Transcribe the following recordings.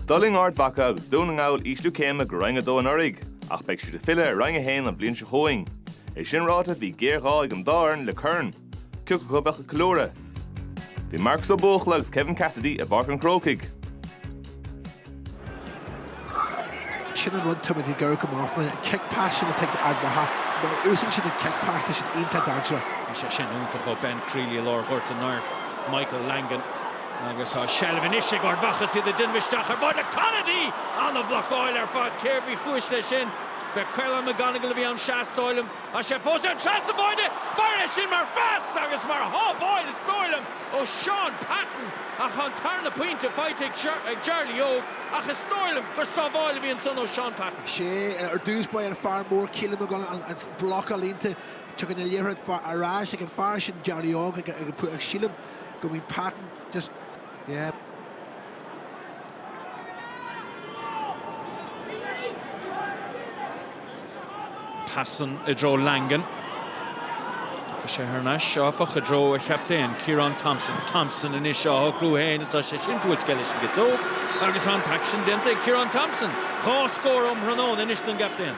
D'fhulaing Ard Mhacha agus Dún na nGall ísliú céime go Roinn 2 anuraidh, ach beidh siad ag filleadh ar Roinn 1 an bhliain seo chugainn. É sin ráite, bhí géarghá ag an dá fhoireann le corn. Cé acu a bheadh ag ceiliúradh? Bhí Marcus Ó Buachalla agus Kevin Cassidy i bPáirc an Chrócaigh. Sin an rud táimid ag iarraidh go mbeadh an cic pas sin atá ag Ard Mhacha. Má úsáideann siad an cic pas, tá siad iontach dainséarach. Bhí sé sin iontach ó Ben Crealey i lár ghort an áir, Michael Langan. Agus tá seilbh anois ag Ard Mhacha, is iad ag déanamh isteach ar báide. Conaty! Ana-bhlocáil ar fad. Cérbh é ba chúis leis sin? B'é Caolán McGonagle a bhí ann sea, is dóigh liom. Tá sé fós ann trasna an bháide! Féach air sin mar phas agus mar shábháil, is dóigh liom. ó Shaun Patton ach tá an tarna pointe faighte ag Jarly Óg ach is dóigh liom gur sábháil a bhí ansan ó Shaun Patton. Sea, ar dtús ba é an fear mór Caolán McGonagle an bloc ealaíonta tagann an liathróid ar ais ag an fear sin Jarly Óg ach sílim go mbíonn Patton just yeah. Passann i dtreo Langan. Tá sé thar n-ais, áfach, i dtreo a chaptaen, Ciarán Thompson. Thompson anois á shocrú féin is tá sé sin buailte leis an gciotóg agus tá an t-aicsean déanta ag Ciarán Thompson. Dhá scór um thráthnóna anois don gcaptaen.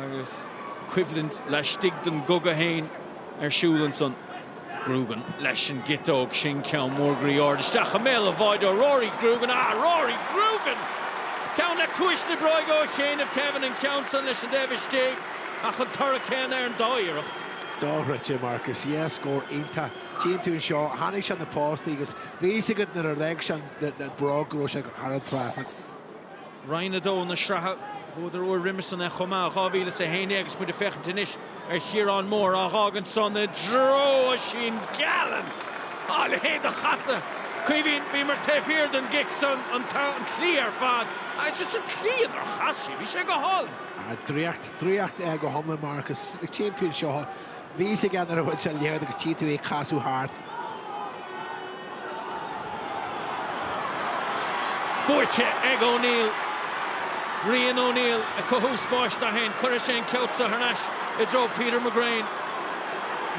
Agus coimhlint laistigh den gcogadh féin ar siúl ansan. Grugan leis an gciotóg, sin ceann mór groí ard isteach i mbéal an bháide ó Rory Grugan. Ah, Rory Grugan! Ceann le cuas na bróige ó chianaibh Kevin, an ceann san leis an dtaobh istigh, ach an toradh céanna ar an dá iarracht. Dochreidte, Marcus. Yeah, scór iontach. Tchíonn tú anseo, chonaic sé na postaí agus bhí fhios agat nuair a d'fhág sé an bhróg go raibh sé thar an trasnán. Roinn 2 na sraithe. Bhuadar uair roimis san é chomh maith, 2011 agus muid ag féachaint anois ar Chiarán Moore á dh'fhágaint san i dtreo Oisín Gallen! A leithéid de chasadh! Caoimhín, bhíomar taobh thiar den gcic san, an tslí ar fad. Is as an tslí inar chas sí, bhí sé go hálainn. Ah, draíocht, draíocht go hiomlán Marcus, agus tchíonn tú anseo, bhí fhios againn nuair a bhuail sé an liathróid agus tchíonn tú é ag casadh thart. Buaite ag O'Neill. Rian O'Neill ag cothú spáis dó féin. Cuirfidh sé an ceann seo thar n-ais i dtreo Peter McGrane.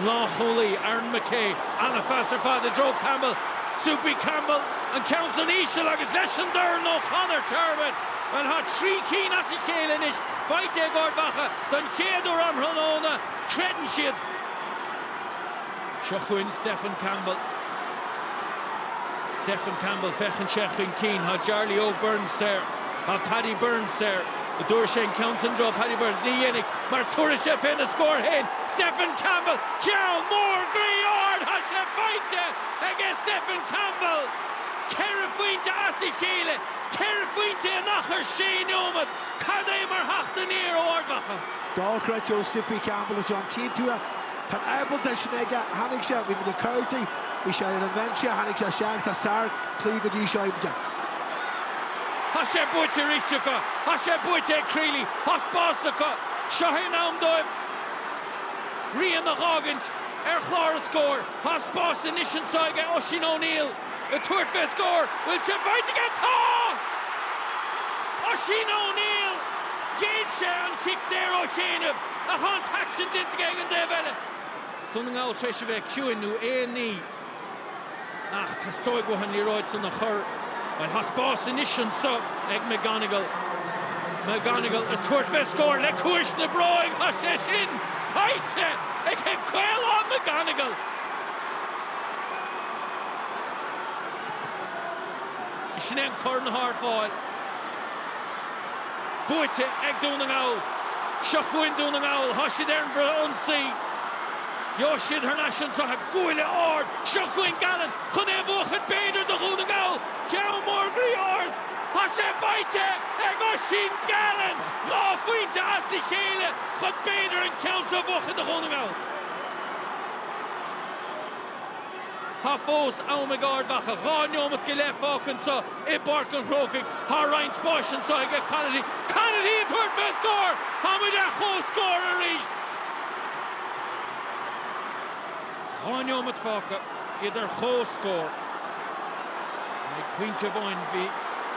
Lánchúlaí Aaron McKay. An-phas ar fad i dtreo Campbell. Soupy Campbell. An ceann san íseal agus leis an dorn ó Chonor Turbitt. Bhuel tá trí cinn as a chéile anois faighte ag Ard Mhacha don chéad uair um thráthnóna. Creideann siad. Seo chugainn Stefan Campbell. Stefan Campbell féachann sé chun cinn, tá Jarly Óg Burns saor, tá Paddy Burns saor, an dtabharfaidh sé an ceann san do Paddy Burns, ní dhéanfaidh mar tabharfaidh sé fé na scór féin, Stefan Campbell, ceann mór groí ard, tá sé faighte ag Stefan Campbell! Ceithre phointe as a chéile, ceithre phointe in achar sé neomat, cad é mar theacht aniar ó Ard Mhacha! Dochreidte ó Soupy Campbell ansin, an dtuigeann tú. Tá an ábaltacht sin aige. Tháinig sé, bhí sé gortaithe, bhí sé ar an bhinse, tháinig sé isteach, tá sárchluiche go dtí seo aimsithe. Tá sé buaite arís acu, tá sé buaite ag Crealey, tá spás acu, seo é an am dóibh rian a dh'fhágaint ar chlár an scóir, tá spás anois anseo ag Oisín O'Neill. Ag tabhairt fé scór, bhfuil sé faighte aige? Tá! Oisín O'Neill! Ghéill sé an chic saor ó chianaibh ach thá an t-aicsean déanta aige ag an dtaobh eile. Dún na nGall tar éis a bheith ciúin nó aon ní ach teastóidh uathu an liathróid san a chur, bhuel thá spás anois anso ag McGonagle. McGonagle ag tabhairt fé scór, le ciumhais na bróige, thá sé sin faighte ag Caolán McGonagle! Sin é an corn thar fáil. Buaite ag Dún na nGall. Seo chugainn Dún na nGall. Tá siad ar an bhfrith-ionsaí. Gheobhaidh siad thar n-ais anso. Buille ard. Seo chugainn Gallen chun é a bhuachan. B'fhéidir do Dhún na nGall ceann mór groí ard. Tá sé faighte ag Oisín Gallen dhá phointe as a chéile chun b'fhéidir an ceann seo a bhuachan do Dhún na nGall. Tá fós am ag Ard Mhacha dhá neomat go leith fágtha anso i bPáirc an Chrócaigh. Tá roinnt spáis anseo ag Conaty. Conaty ag tabhairt fé scór! Tá muid ar chomhscór arís! Dhá neomat fágtha, iad ar chomhscór. Ag pointe amháin bhí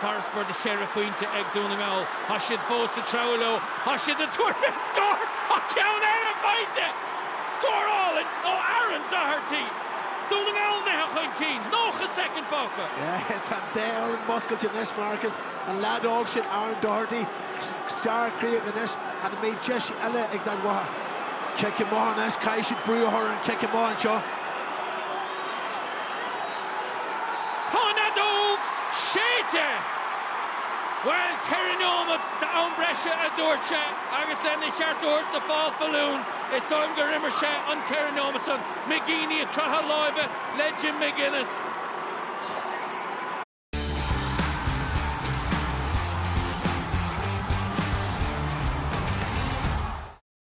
farasbarr de cheithre phointe ag Dún na nGall. Tá siad fós ag treabhadh leo. Tá siad ag tabhairt fé scór! Tá ceann eile faighte! Scór álainn ó Aaron Doherty. Dún na nGall imithe chun cinn, 90 soicind fágtha. Tá an dá fhoireann muscailte anois, Marcus. An leaid óg sin Aaron Doherty, sárchríoch anois. An mbeidh deis eile ag Ard Mhacha? Cic amach anois, caithfidh siad brú a chur ar an cic amach anseo. Tá an fheadóg séidte! Bhuel, ceithre neomat d'am breise a dúirt sé. Agus lena cheart a thabhairt do Paul Faloon, is dóigh liom gur imir sé an 4 nóimeat san. McGeeney ag croitheadh láimhe le Jim McGuinness.